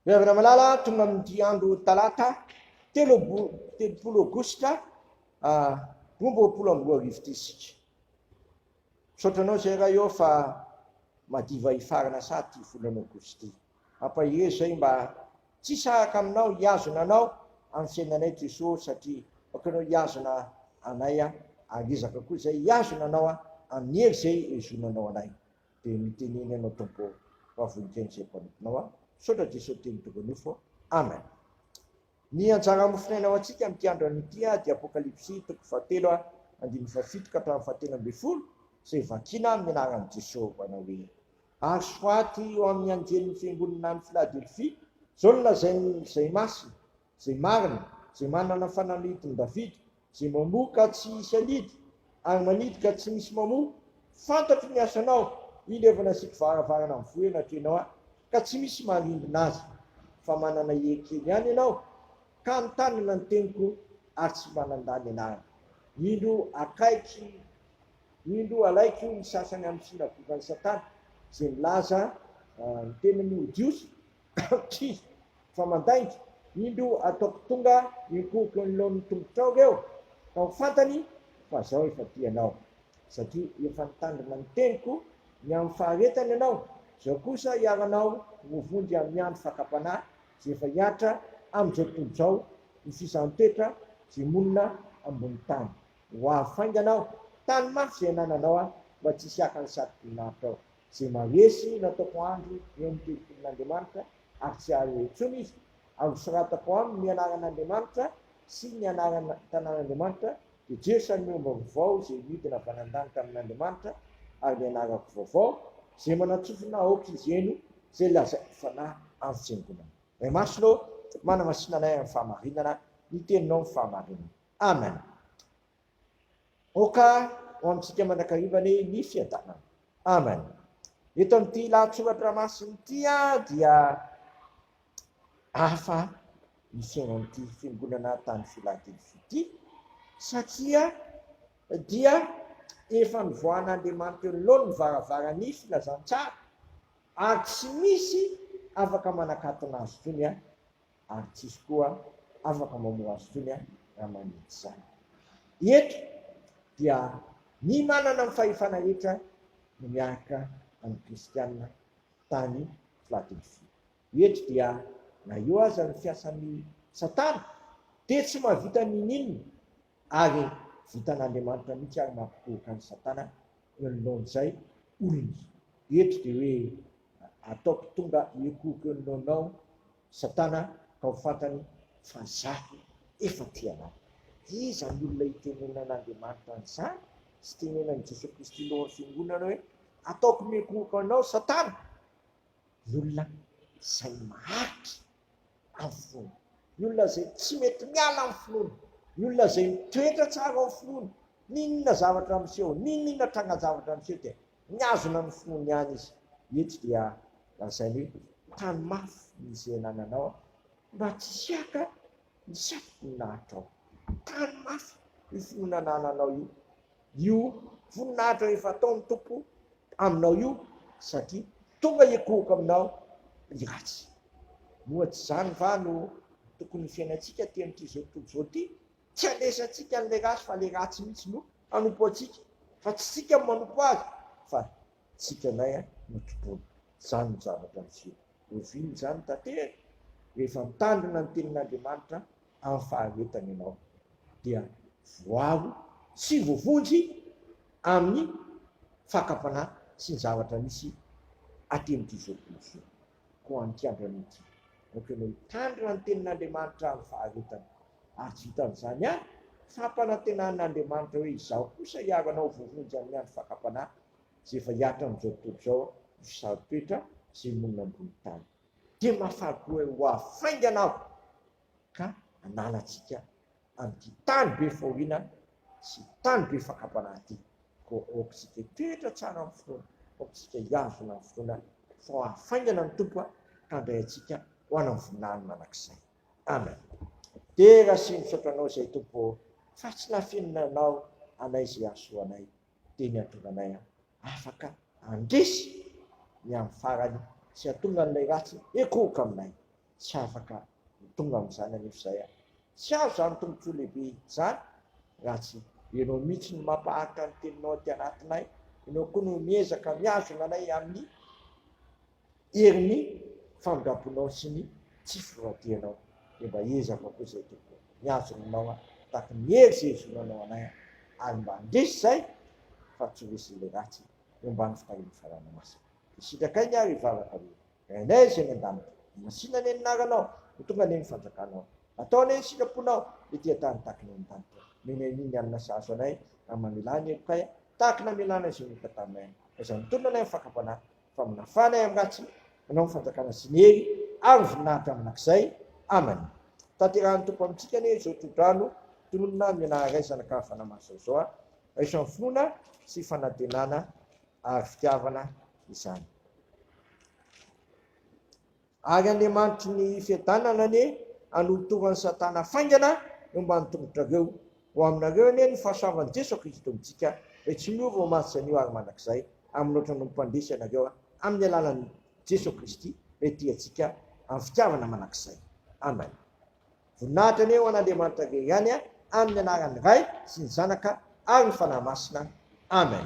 Ny Hoavy Ramalala tonga amin'ity andro talata telopolo aogositra ah, roa amby roapolo amby roa arivo ity isika. Misaotra anao izay raha eo fa madiva hifarana saha ity volana aogositra ity. Ampahery izay mba tsy hisaraka aminao hihazona anao amin'ny fiainanay Jesoa satria aokanao hihazona anay ary ezaka koa izay hihazona anao amin'ny hery izay hihazonanao anay. Dia mitenena ianao Tompo ô, fa voninkaina izay mpanomponao aho. Misaotra Jeso teny tokony ho fo. Amen. Ny anjara mofinaina ho antsika amin'ity andron'ny ity dia Apokalypsy toko fahatelo andininy fahafito ka hatramin'ny fahatelo ambin'ny folo izay vakina amin'ny anaran'i Jeso manao hoe ary soraty eo amin'ny anjelin'ny fiangonana any Filadelfia izao no lazain'ny izay masina Izay marina, izay manana fanalahidin'i Davida, izay mamoa ka tsy hisy hanidy, ary manidy ka tsy misy mamoa, fantatro ny asanao, indro efa nasiako varavarana mivoha eo anatrehanao Aho, ka tsy misy marimbina azy, fa manana hery kely ihany ianao, ka mitanana ny teniko, ary tsy manandà ny anarako. Indro akaiky, indro alaiko ny sasany amin'ny synagogan'i Satana, izay milaza ny tenany ho Jiosy, Tchii! Fa mandainga! Indro ataoko tonga mipoky anoloan'ny tongotrao eo ka ho fantany fa zao efa tia anao. Satria efa nitandrina ny teniko ny amin'ny faharetany ianao, zao kosa iharanao ho vonjy amin'ny andro fakam-panahy ze efa hihatra amin'izao tontolo izao ny sisan'ny toetra ze monina ambony tany. Ho avy faingana aho, tano mafy zay anananao aho mba tsy hisy haka ny satroboninahitra ao. Izay maharesy na ataoko andro eo amin'ny tempolin'Andriamanitra ary tsy hahare intsony izy, ary hosoratako aminy ny anaran'Andriamanitra sy ny anaran'ny tanàn'Andriamanitra, dia Jeso an'ny omby vaovao izay nidina avy any an-danitra amin'Andriamanitra, ary ny anarako vaovao, izay manan-tsofina aoka izy eny, izay lazaiko fanahy amin'ny fiangonana. Ray Masina ô, manamasina anay amin'ny fahamarinana, ny Teninao ny fahamarinana. Amen. Aoka ho amintsika mandrakariva anie ny fiadanana. Amen. Eto amin'ity lahatsoratra masina ity dia hafa ny fiainan'ity fiangonana tany Philadelphie ity satria dia efa nivoahan'Andriamanitra eo anoloany ny varavaran'ny filazantsara ary tsy misy afaka manakatona azy intsony ary tsisy koa afaka mamoha azy intsony raha manenjy izany. Eto dia ny manana ny fahefana hetra no miarka amin'ny kristiana tany Filadelfia. Eto dia na eo aza ny fiasan'i Satana dia tsy mahavita ninininona ary vitan'Andriamanitra mihitsy ary mampikohoka an'i Satana eo anoloan'izay olona izay. Eto dia hoe ataoko tonga hikohoka eo anoloanao Satana ka ho fantany fa izaho efa tia anao. Iza ny olona itenenan'Andriamanitra an'izany sy tenenan'i Jesoa Kristy eo amin'ny Fiangonana hoe, Ataoko miankohoka anao Satana? Ny olona izay maharitra amin'ny finoany. Ny olona izay tsy mety miala amin'ny finoany. Ny olona izay mitoetra tsara ao amin'ny finoany. N'inona zavatra miseho, n'inona trangan-javatra miseho dia Mihazona ny fony ihany izy. Eto dia lazainy hoe, Tano mafy ny izay anananao mba tsy hiaka ny safim-poninahitrao. Tano mafy io finoana anananao io, io voninahitra efa ataon'ny Tompo aminao io, satria tonga hikohoka aminao ny ratsy. Moa tsy izany va no tokony ho fiainantsika aty amin'ity izao tontolo izao ity? Tsy alesantsika an'ilay ratsy fa ilay ratsy mihitsy no hanompo antsika fa tsy isika no manompo azy fa isika ilay no tompoiny. Izany no zavatra miseho. Oviana izany tanteraka? Rehefa mitandrina ny tenin'Andriamanitra amin'ny faharetany ianao dia voaro sy voavonjy amin'ny fakam-panahy sy ny zavatra misy aty amin'ity izao tontolo izao. koa amin'ity andronay ity. Aoka ianao hitandrina ny Tenin'Andriamanitra amin'ny faharetany. Ary tsy vitan'izany ihany, fampanantenan'Andriamanitra hoe Izaho kosa hiaro anao voavonjy amin'ny andro fakam-panahy, izay efa hihatra amin'izao tontolo izao, io saro-toetra izay monina ambony tany. Dia mahafaly koa hoe ho avy faingana Aho ka hanala antsika an'ity tany be fahoriana sy tany be fakam-panahy ity. Koa aokitsika hitoetra tsara amin'ny finoana, aokitsika hihazona amin'ny finoana fa hafaingana ny Tompo handray antsika ho any amin'ny voninahiny mandrakizay. Amen. Dera sy misaotra Anao izay Tompo ô, fa tsy nafenina Anao anay izay hahasoa anay, dia ny hahatonga anay afaka handresy ny amin'ny farany sy hahatonga an'ilay ratsy hikohoka aminay. Tsy afaka ny tonga amin'izany anefa izay an! Tsy azo izany tombontsoa lehibe izany raha tsy. Ianao mihitsy no mampaharitra ny teninao aty anatinay, ianao koa no miezaka mihazona anay amin'ny herin'ny famindram-ponao sy ny tsy fifantianao. Dia mba ezaka koa izay Tompo o! Mihazona anao aho tahaka ny hery izay hezonanao anay an! Ary mba handresy izay fa tsy ho resin'ilay ratsy eo ambany fitahian'ny Fanahy Masina. Dia sitrakay ny ahy ry vavaka rehetra. Renay izay any an-danitra. Ny Masina anie ny naranao, ho tonga anie ny fanjakanao. Atao anie ny sitraponao, ety an-tany takina eny an-danitra. Menay anie ny alina sahazo anay, raha mamelà ny helokay aho, tahaka ny namelànay izay nihota taminay any. Aiza no mitonona anay amin'ny fakam-panahy, fa manafà anay amin'ny ratsy? Anao ny fanjakana sy ny hery, ary ny voninahitra mandrakizay. Amena. Tanterahan'ny Tompo amintsika anie izao tsodrano, tononina ny Menaha Ray, Zanaka Ary Fanahy Masina izao. Raiso amin'ny finoana sy fanantenana ary fitiavana. izany. Ary Andriamanitry ny fiadanana anie hanolotora an'i Satana faingana eo ambany tongotrareo. Ho aminareo anie ny fahasoavan'i Jeso Kristy Tompon-tsika, Izay tsy miova ho maty sy hanio ary mandrakizay amin'ny loatra no mpandresy anareo amin'ny alalan'i Jeso Kristy Ilay tia antsika amin'ny fitiavana mandrakizay. Amen. Voninahitra anie ho an'Andriamanitra rery ihany amin'ny anaran'ny Ray sy ny Zanaka ary ny Fanahy Masina. Amen.